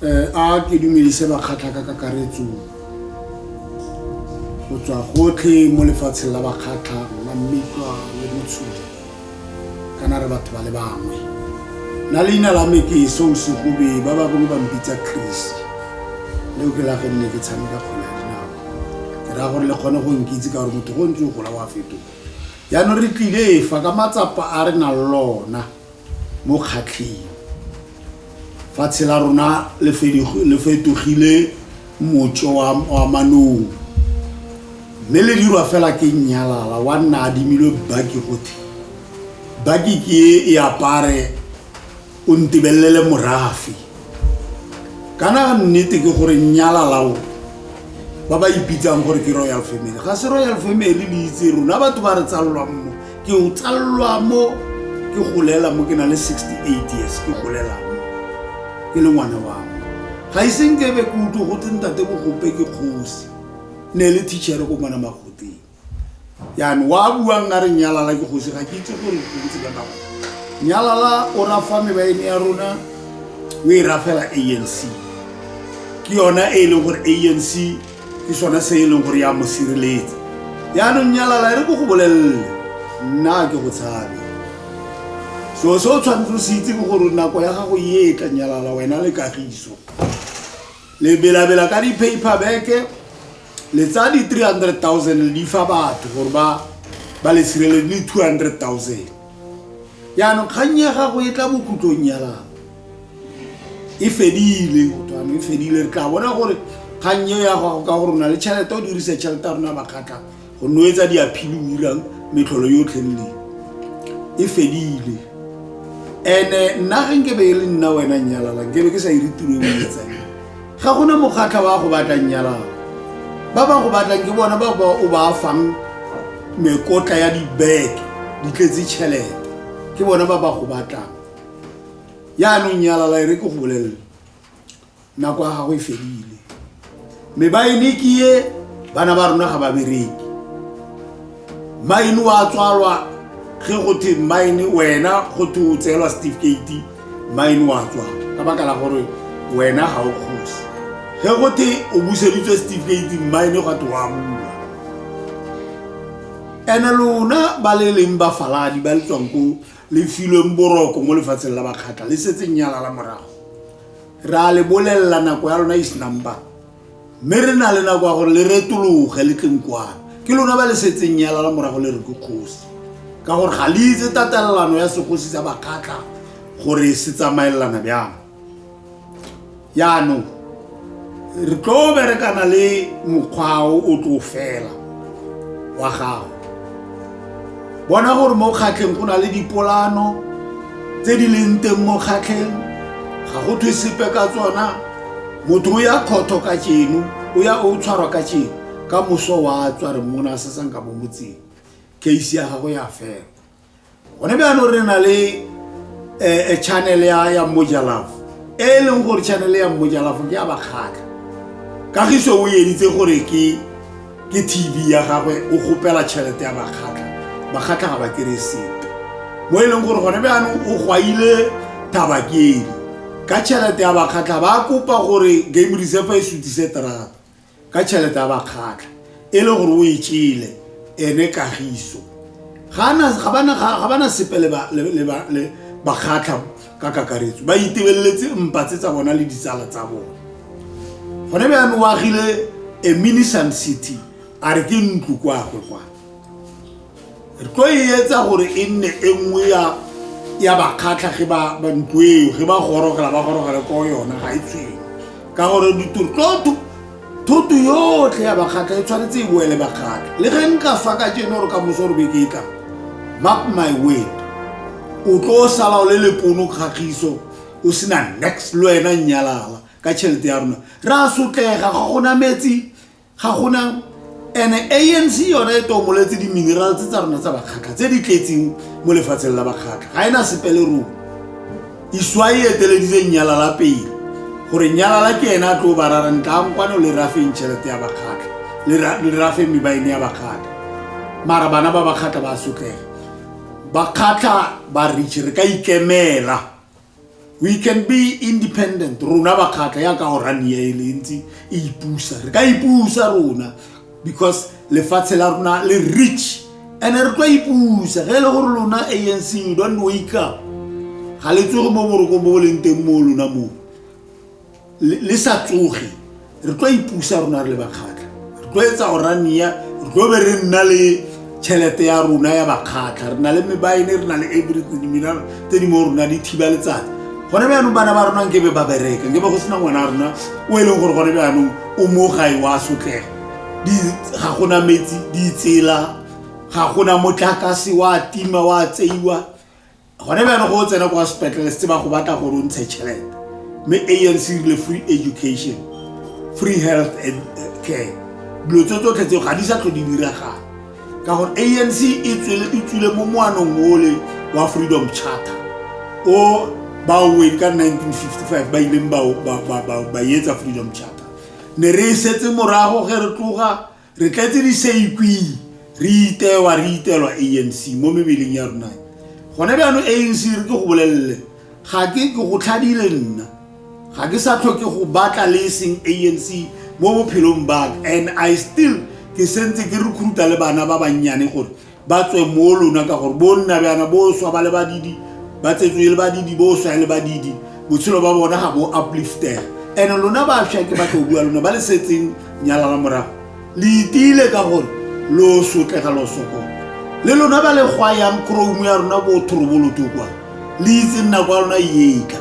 um a ke dumedise bakgatlha ka kakaretso go tswa gotlhe mo lefatsheng la bakgatlha la mmitwa le motshodi kana re batho ba le bangwe na leina la me ke song segobe ba ba bongwe ba mpitsa chris leo ke la ge nne ke tshameka kgona ya dinao ke raya gore le kgone go nkitse ka gore motho go ntse o gola wa fetoga jaanong re tlile fa ka matsapa a re nang lona mo kgatlheng fatshe la rona le fetogile motso wa manong mme le dirwa fela ke nnyalala wa nna adimilwe baki gothe baki ke e apare o ntebelele morafe kana nnete ke gore nyala lao ba ba ipitsang gore ke royal family ga se royal family le itse rona batho ba re tsalelwa mo ke o tsalelwa mo ke golela mo ke na le 68 years ke golela mo ke le ngwana wa mo ga iseng ke be ke utlwe go tse ntate bogope ke kgosi ne le teachere ko mona magoteng yaanong wa buang a re nyalala ke gosi ga ke itse gore bontsi ba nako nyalala o rafa mebaene ya rona o e rafela anc ke yona e e leng gore anc ke sone se e leng gore ya mo sireletsa yaanong nyalala e re ko go bolelele nna ke go tshabe so se o tshwanetse o se itse ke gore nako ya gago e e tla nyalala wena le kagiso le belabela ka di-paper beke le tsaya di-three hundred thousand le di fa batho gore ba ba le sireledi le two hundred thousand jaanong kgang ya gago e tla bokhutlong ya lapa e fedile gotano e fedile re tla bona gore kgang eo ya gago ka gore o na le tšhelete o dirise tšhelete ya rona bakgatlha go noetsa diaphili o irang metlholo yotlhe nne e fedile ene nna ge nke be e le nna wena nnyalala nkebe ke sa ire tiro e etsang ga gona mokgatlha wa go batla nnyalala ba ba go batlang ke bona ba ba o ba fang mekotla ya dibeke di tletse tšhelete ke bona ba ba go batlang yaanong nyalala e re ke go bolelele nako ya gago e fedile mme ba ene ke ye bana ba rona ga ba bereki maine wa tswalwa ge go the maine wena go the o tseelwa certificate maine wa tswalwa ka baka la gore wena ga o kgosi ge go the o buseditswe certificate maine gwa te wa bula ene lona ba le leng ba faladi ba le tswang ko le filweng boroko mo lefatsheng la bakgatla le setseng nyalala morago re a le bolelela nako ya lona is number mme re na le nako ya gore le retologe le tleng kwana ke lona ba le setseng yala la morago le re ke kgosi ka gore ga le itse tatelelano ya segosi sa bakgatla gore se tsamaelelana bjang yaanong re tlo berekana le mokgwao o tlo fela wa gago bona gore mo kgatlheng go na le dipolano tse di leng teng mo kgatlheng ga go thwe sepe ka tsona motho o ya khotho ka tšeno o ya o tshwarwa ka tšeno ka moso wa tswa re mona se sang ka bomotseng case ya gago ya fela gone bjano re na le um channel ya ya mojalafo e e leng gore channel ya mojalafo ke ya bakgatlha kagiso o editse gore ke ke tv ya gagwe o gopela tšhelete ya bakgatlha bakgatlha ga ba kere sepe mo e leng gore gone bjaanong o gwaile tabakedi ka tšhelete ya bakgatlha ba kopa gore game reserve e sutise terata ka tšhelete ya bakgatlha e le gore o e tšele ene kagiso ga bana sepe le bakgatlha ka kakaretso ba itebeletse mpa tse tsa bona le ditsala tsa bona gone bjane o agile a minisan city a re ke ntlo kwagwe kwa re tlo e etsa gore e nne e nngwe ya ya bakgatlha ge ba ntlo eo ge ba gorogela ba gorogele ko yona ga e tshwene ka gore ditoro tlo thoto yotlhe ya bakgatla e tshwanetse e boele bakgatla le ge nka swa ka jeno gore ka moso gore beke e tlang mark my word o tlo sala o le lepono kgagiso o sena next le wena nnyalala ka tšhelete ya rona re a sotlega ga gona metsi ga gona and anc yone e tomoletse di-mineral tse tsa rona tsa bakgatlha tse di tletseng mo lefatsheng la bakgatlha ga e na sepele rona Iswai e eteleditse Nyalala pele gore Nyalala ke ene a tlo ba rarang tlankwano le rafeng tšhelete ya bakgatla le ra- le rafeng me ba e neya bakgatla mara bana ba bakgatla ba sotlega bakgatla ba rich re ka ikemela we can be independent rona bakgatla yaka orania e le ntse e ipusa re ka ipusa rona because lefatshe la rona le rich and re tlo ipusa ge e le gore lona anc you don't wake up ga le tsoge mo boroko bo leng teng mo lona moo le sa tsoge re tlo ipusa rona re le bakgatlha re tlo etsa orania re tlo be re nna le tšhelete ya rona ya bakgatlha re na le mebaene re na le everything mina tse di mo rona di thiba letsatsi gone bjaanong bana ba rona nkebe ba bereka nkebe go sena ngwana a rona o e leng gore gone bjaanong o mo gae wa sotlego ga gona metsi ditsela ga gona motlakase wa tima wa tseiwa gone bjano go o tsena kwa sepetlele setse ba go batla gore o ntshe tšhelete mme anc rile free education free health and eh, care dilo tse tsotlhe tseo ga di sa tlho di diragala ka gore anc e, e tswile mo moanong ole wa freedom charter o baoweng ka 1955 ba ileng ba etsa freedom charter ne re e setse morago ge re tloga Re tletse diseikwing, re itewa, re itelwa ANC mo mebeleng ya rona. Gone bjano ANC re ke go bolelele, ga ke ke go tlhadile nna. Ga ke sa tlhoke go batla le eseng ANC mo bophelong baka and I still ke sentse ke recruita le bana ba bannyane gore ba tswe mo lona ka gore bo nna bjana bo swa ba le badidi ba tsetswe e le badidi bo swa e le badidi botshelo ba bona ga bo upliftega and lona bafša ke batlo bua lona ba le setseng nyalala morago le itile ka gore lo sotlega lo sokola le lona ba le gwa yang chrome ya rona bo thoroboloto kwa le itse nna kwa lona yeka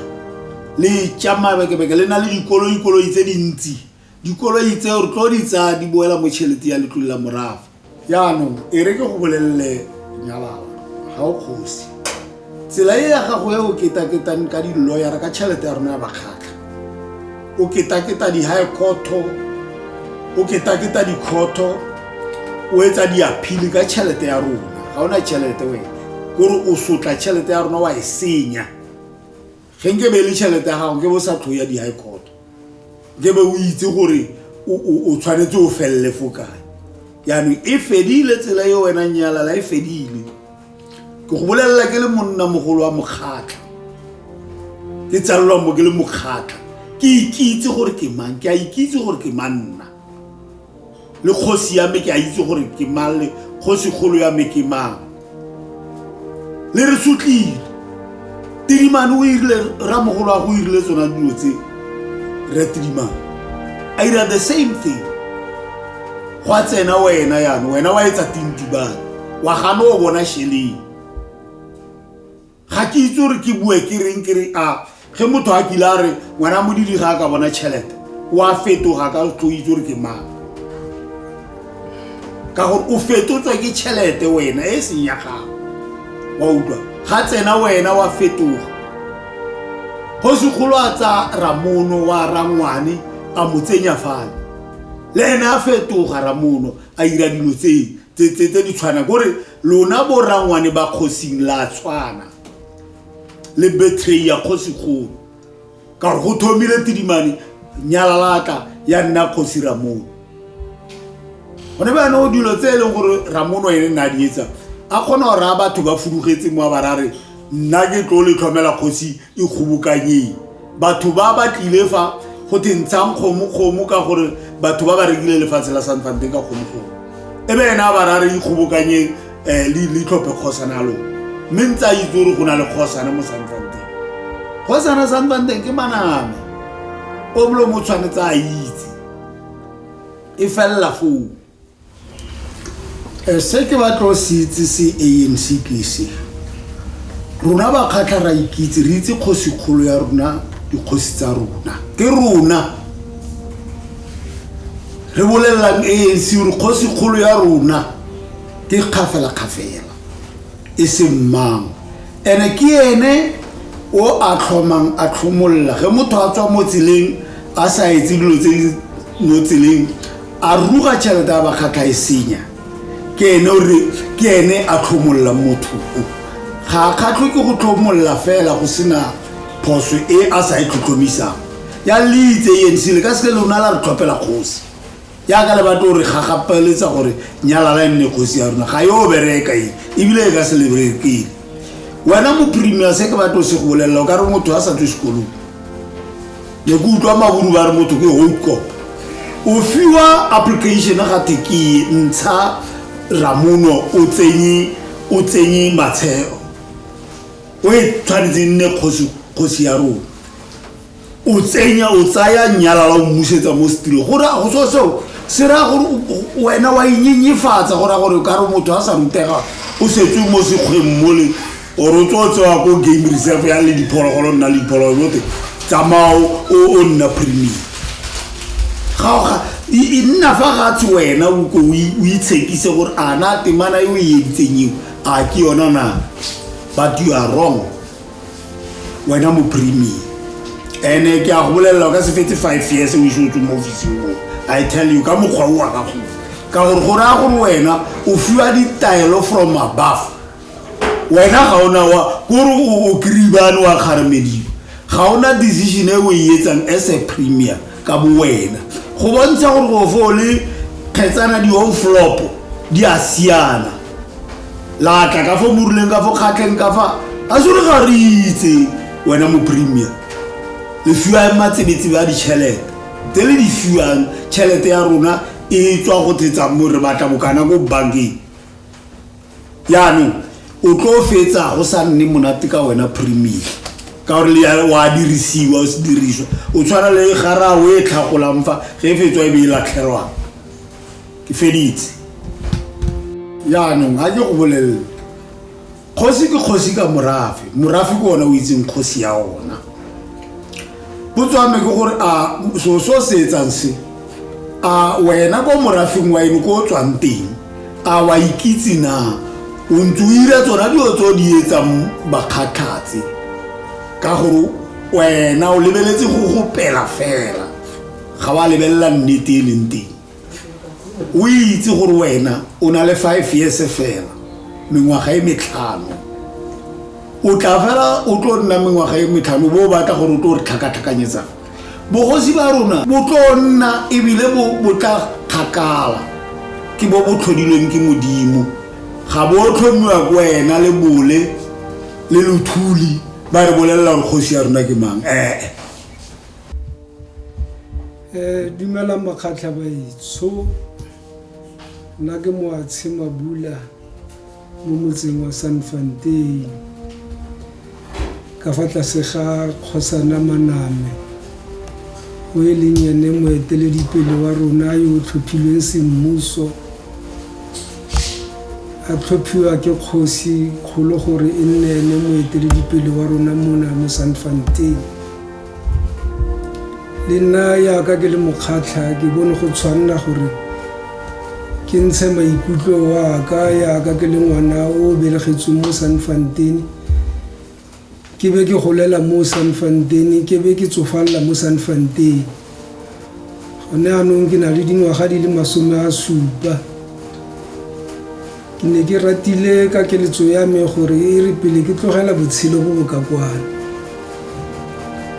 le tšamaya bekebeke le na le dikoloikoloi tse dintsi dikoloi tseo re tlo di tsaya di boela mo tšhelete ya letlole la morafa jaanong e re ke go bolelele nyalala ga o kgosi tsela e ya gago e o ketaketang ka diloyara ka tšhelete ya rona ya bakgatlha o ketaketa di-high cotto o ketaketa dikgotho o etsa diaphile ka tšhelete ya rona ga o na tšhelete wena kore o sotla tšhelete ya rona wa e senya ge nke be e le tšhelete ya gago nke be o sa tlo ya di-high court nke be o itse gore o tshwanetse o felele fo kae yaanong e fedile tsela e wena nyalala e fedile ke go bolelela ke le monna mogolo wa mokgatlha ke tsalelwa mo ke le mokgatlha ke ikitse gore ke mang ke a ikitse gore ke manna le kgosi ya me ke a itse gore ke mang le kgosigolo ya me ke mang le re sotlile tidimane o irile ramogolo a go irile tsona dilo tse re tidimane a ira the same thing go a tsena wena yane wena wa etsa tintibane wa gane o bona sheleng ga ke itse gore ke bue ke reng ke re a ge motho a kile a re ngwana modidi ga a ka bona tšhelete o a fetoga ka tlo itse gore ke mang ka gore o fetotswa ke tšhelete wena e seng ya gago wa utlwa ga tsena wena wa fetoga gosigolo a tsa ramono wa rangwane a mo tsenya fale le ene a fetoga ramono a ira dilo tseo tse di tshwana kore lona borangwane ba kgosing la tshwana le betray ya kgosigolo ka gore go thomile tidimane nyalalaka ya nna kgosi ramono gone ba yanong dilo tse e leng gore ramono ene nna di etsang a kgona go raya batho ba fudugetse mo a ba rare nna ke tlo le tlhomela kgosi e kgobokanyeng batho ba ba tlile fa go te ntshang kgomokgomo ka gore batho ba ba rekile lefatshe la sanfante ka kgomokgomo e be ena ba rare ikgobokanyeng um eh, le tlhophe kgosana ya lone mme ntse a itse gore go na le kgosana mo sanfanteng kgosana sanfanteng ke maname o molo mo tshwanetse a itse e felela foo Eh, se ke batla o se itse se anc ke se rona bakgatlha ra ikitse re itse kgosikgolo ya rona dikgosi tsa rona ke rona re bolelelang anc gore kgosikgolo ya rona ke kgafela-kgafela e seng mang ene ke ene o a tlhomang a tlhomolola ge motho a tswa mo tseleng a sa etse dilo tse di mo tseleng a ruga tšhelete a bakgatlha e senya ke ene o re ke ene a tlhomolola motho ga a kgatlho ke go tlhomolola fela go sena phoso e a sa e tlhotlhomisang ya leitse e nsile ka seke lona la re tlhopela kgosi yaka le batlo gore ga gapeletsa gore nyalala e nne kgosi ya rona ga yo bereka e ebile e ka se leberekeng wena mo premier se ke batlo se go bolelela o ka re motho a sa tswe sekolong ne ke utlwa maburu ba re motho ke hokop o fiwa application ga te ke ntsha ramono o tsenye o tsenye matsheo o e tshwanetse nne kgosi ya rona o tsenya o tsaya nyalala o mmusetsa mo setirong gore a go so seo se raya gore wena wa inyenyefatsa go raya gore ka re motho a sa rutega o setswe mo sekgweng mole ore o tsewa tsewa ko game reserve ya le diphologolo nna le diphologolo bote tsamao o nna premium gaoga e nna fa gatshe wena ko o itshekise gore a na temana e o e editseng eo a ke yona na but you are wrong wena mo premium ene ke a go bolelela ka se fete five years o ise o tswe mo officing mo i tell you ka mokgwa o wa ka go ka gore go raya gore wena o fiwa ditaelo from above wena ga ona wa kore o kiribane wa kgaremediwa ga ona decision e o e etsang as a premier ka bo wena go bontsha gore go fo o le kgetsana di-home flopo di a siana la tla ka fa moruleng ka fo kgatlheng ka fa a sore ga re itse wena mo premier le fiwa matsebetsebe a ditšhelete tse le di fiwang tšhelete ya rona e tswa go thetsa mo re batla bokana ko bankeng yaanong o tlo fetsa go sa nne monate ka wena premier ka gore le wa dirisiwa o se diriswa o tshwana le garawe e tlhagolang fa ge e fetswa e be e latlhelwang ke feditse jaanong ga ke go bolelele kgosi ke kgosi ka morafe morafe ke ona o itseng kgosi ya ona potswame ke gore a so so se etsang se a wena ko morafeng wa eno ko o tswang teng a wa ikitse na o ntse o ira tsona dilo tse o di etsang bakgatlhatse ka gore wena o lebeletse go gopela fela ga wa lebelela nnete e leng teng o itse gore wena o na le five years fela mengwaga e metlhano o tla fela o tlo nna mengwaga e metlhano bo o batla gore o tlo re tlhakatlhakanyetsang bogosi ba rona bo tlo nna ebile bo tla kgakala ke bo bo tlhodilweng ke modimo ga bo tlhomiwa ko wena le bole le lothuli ba re bolelela gore kgosi ya rona ke mang ee Eh, dumelang makgatlha baitsho nna ke moatshe mabula mo motseng wa san fanteng ka fa tlase ga kgosana maname o e leng ene moeteledipele wa rona yo o tlhophilweng semmuso a tlhophiwa ke kgosi kgolo gore e nne ene moeteledipele wa rona mona mo san fanteng le nna yaka ke le mokgatlha ke bone go tshwanela gore ke ntshe maikutlo waka yaka ke le ngwana o belegetsweng mo sanfantene ke be ke golela mo sanfantene ke be ke tsofalela mo sanfantene gone anong ke na le dingwaga di le masome a supa Ke ne ke ratile ka keletso ya me gore e re pele ke tlogela botshelo bo bo ka kwano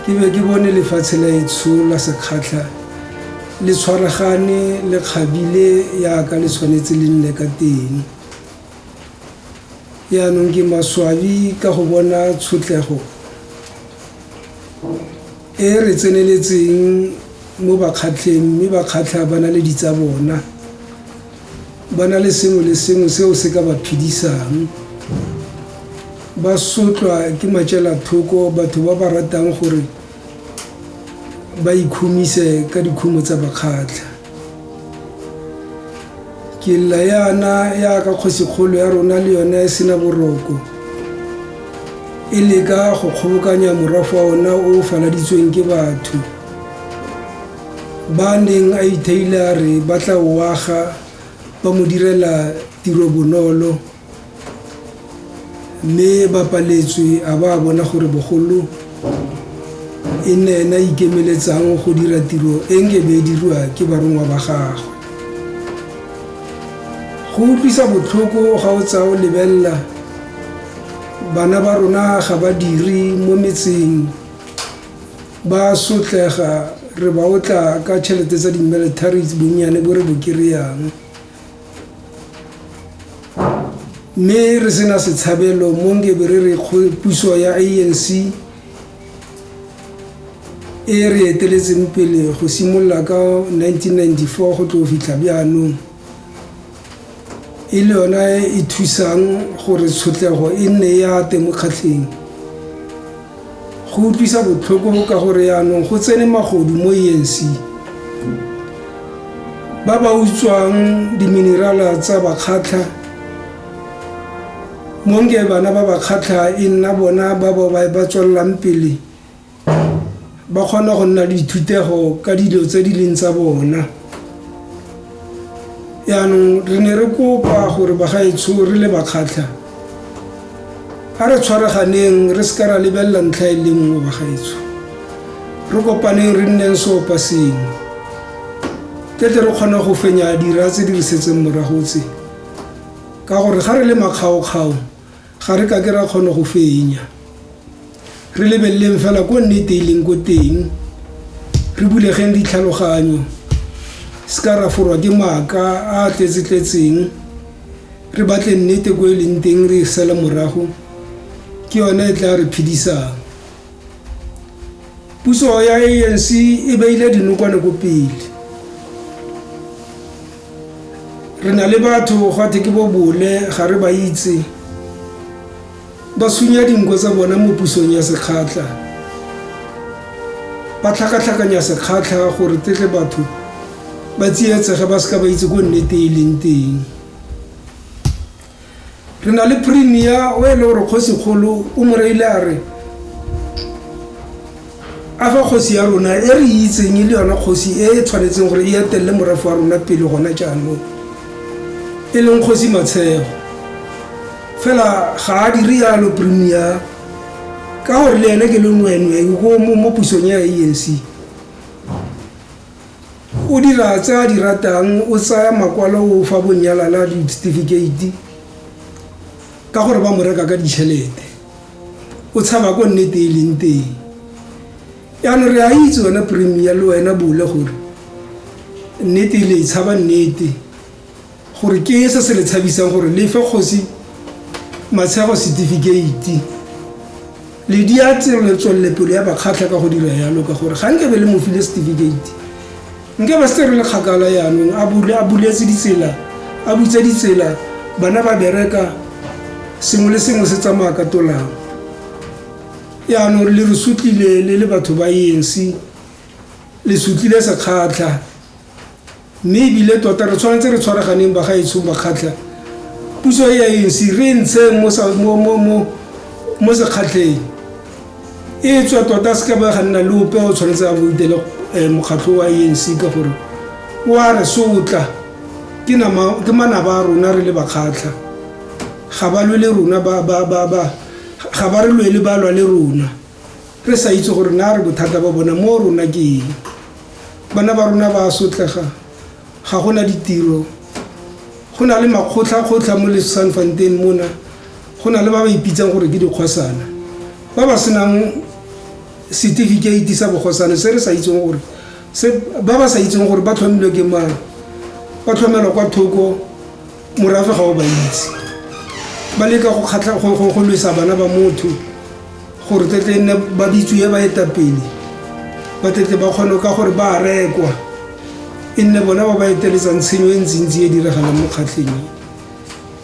ke be ke bone lefatshe la etsho la sekgatlha le tshwaragane le kgabile yaka le tshwanetse le nne ka teng yaanong ke maswabi ka go bona tshotlego e re tseneletseng mo bakgatlheng mme bakgatlha ba na le ditsa bona ba na le sengwe le sengwe seo se ka ba phedisang ba sotlwa ke matšela thoko batho ba ba ratang gore ba ikhumise ka dikhumo tsa bakgatlha ke lla yana ya ka kgosikgolo ya rona le yone e sena boroko e leka go kgobokanya morafa ona o faladitsweng ke batho Ba a neng a itheile a re ba tla o aga ba mo direla tiro bonolo mme ba paletswe a ba a bona gore bogolo e nne ena ikemeletsang go dira tiro e nke be e dirwa ke barongwa ba gagwe. Go utlwisa botlhoko ga o tsaya o lebelela bana ba rona ga ba dire mo metseng ba sotlega re ba o tla ka tšhelete tsa di-militaries bonnyane bo re bo kry-ang mme re sena setshabelo mo nkebe re re puso ya a n c e re eteletseng pele go simolola ka 1994 go tlo fitlha bjaanong e le yona e e thusang gore tshotlego e nne e ate mo kgatlheng go utlwisa botlhoko ka gore yaanong go tsene magodu mo enc ba ba utswang diminerala tsa bakgatlha monge bana ba bakgatlha e nna bona ba ba ba tswelelang pele ba kgona go nna le dithutego ka dilo tse di leng tsa bona yaanong re ne re kopa gore bagaetsho re le bakgatlha a re tshwaraganeng re se ka ra lebelela ntlha e le nngwe bagaetsho re kopaneng re nneng seopa sengwe ke tle re kgona go fenya dira tse di re setseng morago tse ka gore ga re le makgaokgao Ga re kake ra kgona go fenya. Re lebeleleng fela ko nnete e leng ko teng. Re bulegeng ditlhaloganyo. Se ka ra forwa ke maaka a a tletse-tletseng. Re batle nnete ko e leng teng re e sele morago. Ke yone e tla re phedisang. Puso ya ANC e beile dinokwane ko pele. re na le batho gwa the ke bo bole ga re ba itse ba sunya dinko tsa bona mo pusong ya sekgatlha ba tlhakatlhakanya sekgatlha gore tetle batho ba tsietsege ba seka ba itse ko nnete e leng teng re na le premier o e le gore kgosikgolo o mo reile a re a fa kgosi ya rona e re itseng e le yona kgosi e e tshwanetseng gore e etelele morafe wa rona pele gona jaanong e leng kgosi matshego fela ga a dire yalo premier ka gore le ene ke le nwenwe ko mo pusong ya anc O dira tse a di ratang o tsaya makwalo o fa bonyalala le certificate ka gore ba mo reka ka ditšhelete o tshaba ko nnete e leng teng yaanong re a itse wena premier le wena bole gore nnete le e tshaba nnete gore ke se se le tshabisang gore le fe kgosi matshego setifikeiti le di a tselo tswellepelo ya bakgatlha ka go dira yalo ka gore ga nkebe le mo file setifikeiti nke ba se re le kgakala yaanong a buletse ditsela a butse ditsela bana ba bereka sengwe le sengwe se tsamaya ka tolang yaanong le re sutlile le le batho ba enc le sutlile sekgatlha Mme ebile tota re tshwanetse re tshwaraganeng bagaetshong bakgatlha. Puso e ya ANC re e ntsheng mo sa mo mo mo mo sekgatlheng. E tswa tota se ka ba ga nna le ope o tshwanetse a boutele eh, mokgatlho wa ANC ka gore o a re sotla ke nama ke manaba a rona re le bakgatlha ga ba lwele rona ba ba ba ba ga ba re lwele ba lwa le rona re sa itse gore na re bothata ba bona mo rona ke eng Bana ba rona ba a sotlega, ga go na ditiro. Go na le makgotlhakgotlha mo Lesanfanteng mona, go na le ba ba ipitsang gore ke dikgosana ba ba senang setifikeiti sa bogosane se re sa itseng gore ba ba sa itseng gore ba tlhomilwe ke mang, ba tlhomelwa kwa thoko morafe ga o ba itse ba leka go kgatlha go go go lwesa bana ba motho gore tle tle nne ba bitsuye ba etapele ba tle tle ba kgone ka gore ba rekwa e nne bona ba ba eteletsang tshenyo e ntsintsi e diragalang mo kgatlheng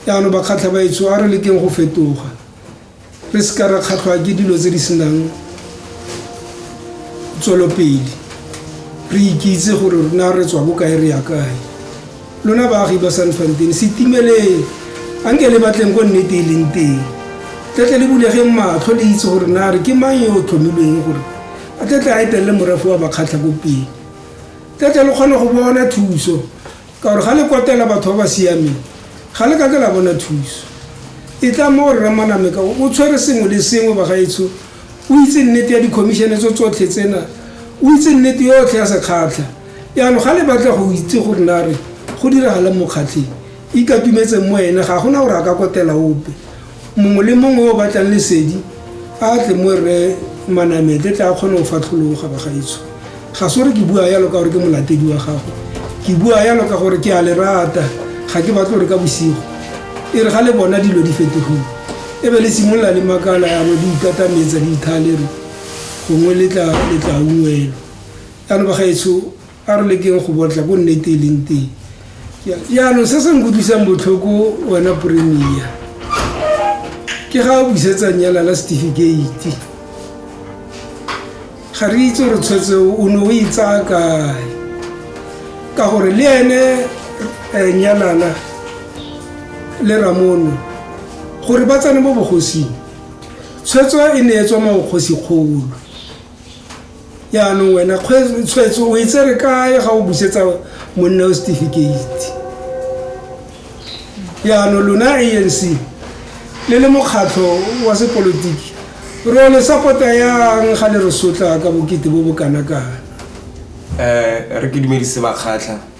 jaanong ba kgatlha ba etso a re lekeng go fetoga re se ka ra kgatlhwa ke dilo tse di senang tswelopele re ikitse gore rona re tswa bokae re ya kae lona baagi ba san fantene setimeleng a nke le batleng ko nnete e leng teng tletle le bulegeng matlho le itse gore na re ke mang yo o tlhomilweng gore a tletle a etelele morafe wa bakgatlha ko pele tletle le kgone go bona thuso ka gore ga le kotela batho ba ba siameng ga le kake la bona thuso e tla mo o rramaname ka o tshwere sengwe le sengwe bagaetsho o itse nnete ya dikhomišene tso tsotlhe tsena o itse nnete yotlhe ya sekgatlha yaanong ga le batla go itse gore na re go diragalang mokgatlheng ikatumetseng mo ene ga gona gore a ka kotela ope mongwe le mongwe o batlang lesedi a tle mo rre manamete tla kgone go fatlhologa bagaetsho ga se gore ke bua yalo ka gore ke molatedi wa gago ke bua yalo ka gore ke a le rata ga ke batle gore ka bosigo e re ga le bona dilo di fetogile e be le simolola le makala yalo di ikatametsa di ithalere gongwe letla ungwelo yalo bagaetsho A re lekeng go botla ko nnete e leng teng yaanong se se nkutlwisang botlhoko wena premier ke ga o busetsa nyala la setifikeiti ga re itse gore tshwetse o ne o itsaya kae ka gore le ene um nyalala le ramono gore ba tsene mo bogosing tshwetso e ne e tswa maokgosikgolo yaanong wena tshwetso o e tsere kae ga o busetsa monna o certificate yaanong lona anc le le mokgatlho wa sepolotiki ro le sapota yang ga le re sotla ka bokete bo bo kana kana um re ke dumedise bakgatlha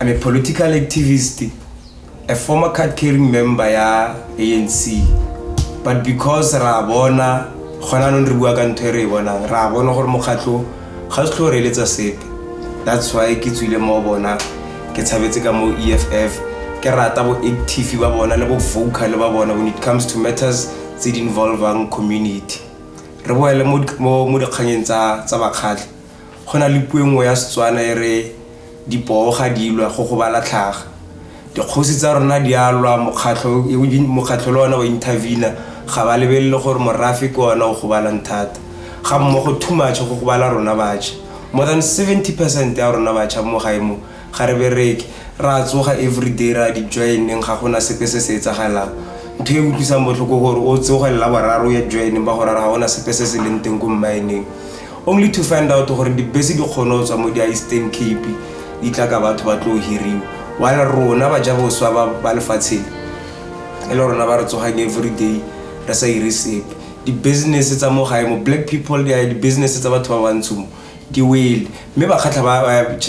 I'm a political activist, a former card-carrying member ya ANC. But because ra bona gona nong re bua ka ntho e re e bonang, ra bona gore mokgatlho ga se tlho reeletsa sepe. That's why ke tswile mo bona ke tshabetse ka mo EFF ke rata bo active ba bona le bo vocal ba bona when it comes to matters tse di involvang community. Re boele mo mo dikganyeng tsa tsa bakgatlhi. Go na le puo e nngwe ya Setswana e re dipoo ga di lwa go gobala tlhaga. Dikgosi tsa rona di a lwa mokgatlho mokgatlho le ona wa intervene ga ba lebelele gore morafe ke ona o gobalang thata. Ga mmogo too much go gobala rona batšha. More than 70 percent ya rona batšha mo gae mo Ga re bereke, re a tsoga everyday, re a di joineng, ga gona sepe se se etsagalang. Ntho e utlwisang botlhoko gore o tsoge lela boraro o ye joineng ba go rara ga gona sepe se se leng teng ko mmaeneng. Only to find out gore dibese di kgone go tswa mo di ya Eastern Cape di tla ka batho ba tlo hiriwa. While rona ba ja boswa ba ba lefatshe le, e le rona ba re tsogang everyday re sa ire sepe. Di-business tsa mo gae mo, black people di a ya, di-business tsa batho ba bantsho mo. ke wele mme bakgatlha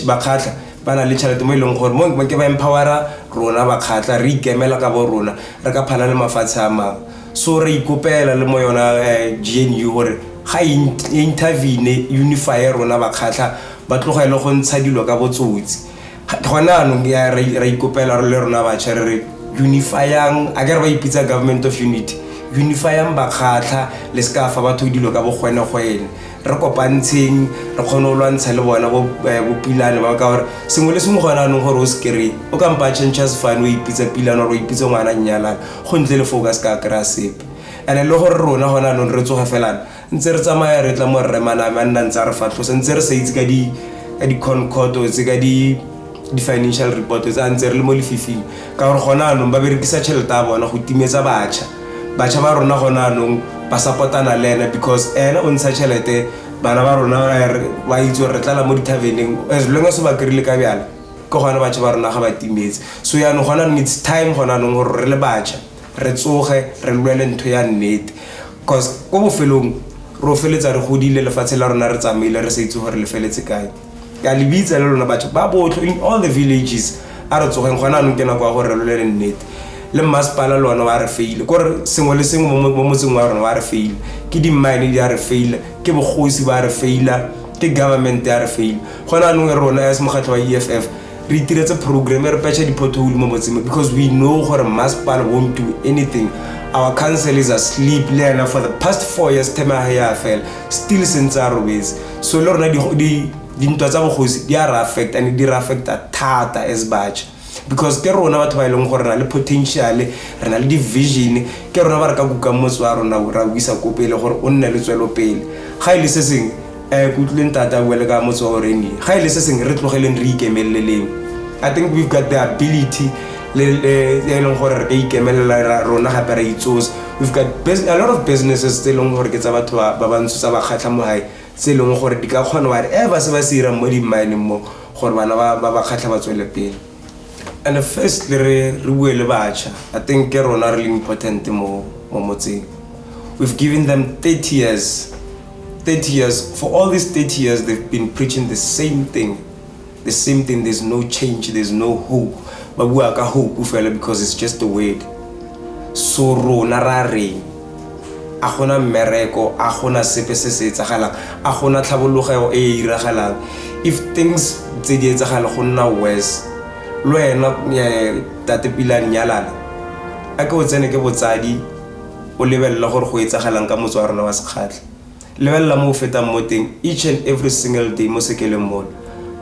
bakgatlha ba na le tšhelete mo e leng gore mo ke ba empowera rona bakgatlha re ikemela ka bo rona re ka phana le mafatshe a mangwe so re ikopela le mo yona um eh, gnu gore ga e e intervene unifye rona bakgatlha ba tloga e le go ntsha dilo ka botsotsi gone anong ra ikopela le rona batšha re re unifyang a kere ba ipitsa government of unity unifyang bakgatlha le se ka fa batho dilo ka bogwenegwene re kopantsheng re kgone go lwantsha le bona eh, bopilane ba ka gore sengwe le sengwe gone anong gore o se kry-e o kampa a changes fane o ipitsa pilane gore o ipitse ngwana nnyalana go ntle le foo ka se ka kry-a sepe and-e le gore rona gone anong re tsoge felana ntse re tsamaya re tla mo rremaname a nna ntse a re fatlhosa ntse re sa itse ka di-concordo tse ka di di-financial report tse a ntse re le mo lefifing ka gore gona anong ba berekisa tšhelete ya bona go timetsa batšha batšha ba rona gona anong ba sapotana le ene because ene o ntsha tšhelete bana ba rona ba itse gore re tlala mo di-taveneng as long as o ba kry-ile ka bjala ke gona batšha ba rona ga ba timetse so yaanong gona anong its time gona anong gore re le batšha re tsoge re lwele ntho ya nnete cause ko bofelong re o feletsa re godile lefatshe la rona re tsamaile re sa itse gore le feletse kae ke a le bitsa le lona batho ba botlho in all the villages a re tsogeng gona anong ke nako ya gore re lolele nnete le mmasepala le one wa re faile kore sengwe le sengwe mo mo motseng wa rona wa re faile ke dimmine di a re faila ke bogosi ba re faila ke government ya re faila gona anong e rona ya se mokgatlho wa e f f re itiretse program re patcha di-pothole mo motseng because we know gore masepala won't do anything our council is asleep le ena for the past four years term ya ya fela still sentse a robetse so le rona dintwa tsa bogosi di a re affect and di re affecta thata as batšha because ke rona batho ba e leng gore re na le potential re na le di-vision ke rona ba re ka kukang motse wa rona ra buisa ko pele gore o nne le tswelopele ga e le se sengwe um ke utlwile ntate a bua le ka motsogo gore ne ga e le se sengwe re tlogeleng re ikemeleleng i think we've got the ability le e leng gore re ka ikemelela rona gape ra itsosa we've got a lot of businesses tse e leng gore ke tsa batho ba bantsho tsa bakgatlha mo gae tse e leng gore di ka kgona whatever se ba se irang mo di-mineng mo gore bana ba bakgatlha ba tswele pele and first le re re bue le batšha i think ke rona re le important mo mo motseng we've given them 30 years 30 years for all these 30 years they've been preaching the same thing the same thing there's no change there's no hope ba bua ka hope fela because it's just a word so rona ra reng a gona mmereko a gona sepe se se etsagalang a gona tlhabologego e e iragalang if things tse di etsagala go nna worse lo ena eh, tate pila nyalana a ke o tsene ke botsadi o lebelela gore go etsagalang ka motse wa rona wa sekgatlha Lebelela mo o fetang mo teng each and every single day mo sekeleng mono.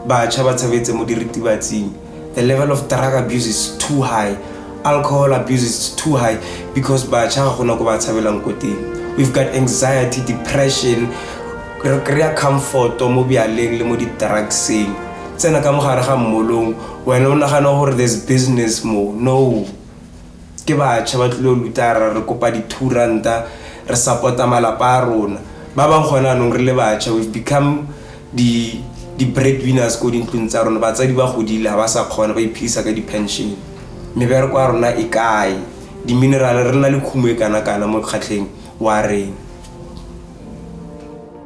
Batšha ba tshabetse mo diritibatsing. The level of drug abuse is too high. Alcohol abuse is too high because batšha ga gona ko ba tshabelang ko teng. We've got anxiety, depression, re kry-a comfort mo bjaleng le mo di-drugseng tsena ka mogare ga mmolong wena o nagana gore there's business mo no ke batšha ba tlile go lutara re kopa di-two ranta re support-a malapa a rona ba bangwe gone anong re le batšha we've become di-bread winners ko dintlong tsa rona batsadi ba godile ga ba sa kgona ba iphedisa ka di-pension mebereko ya rona e kae di-minerale re na le khumo e kana-kana mo kgatlheng wa reng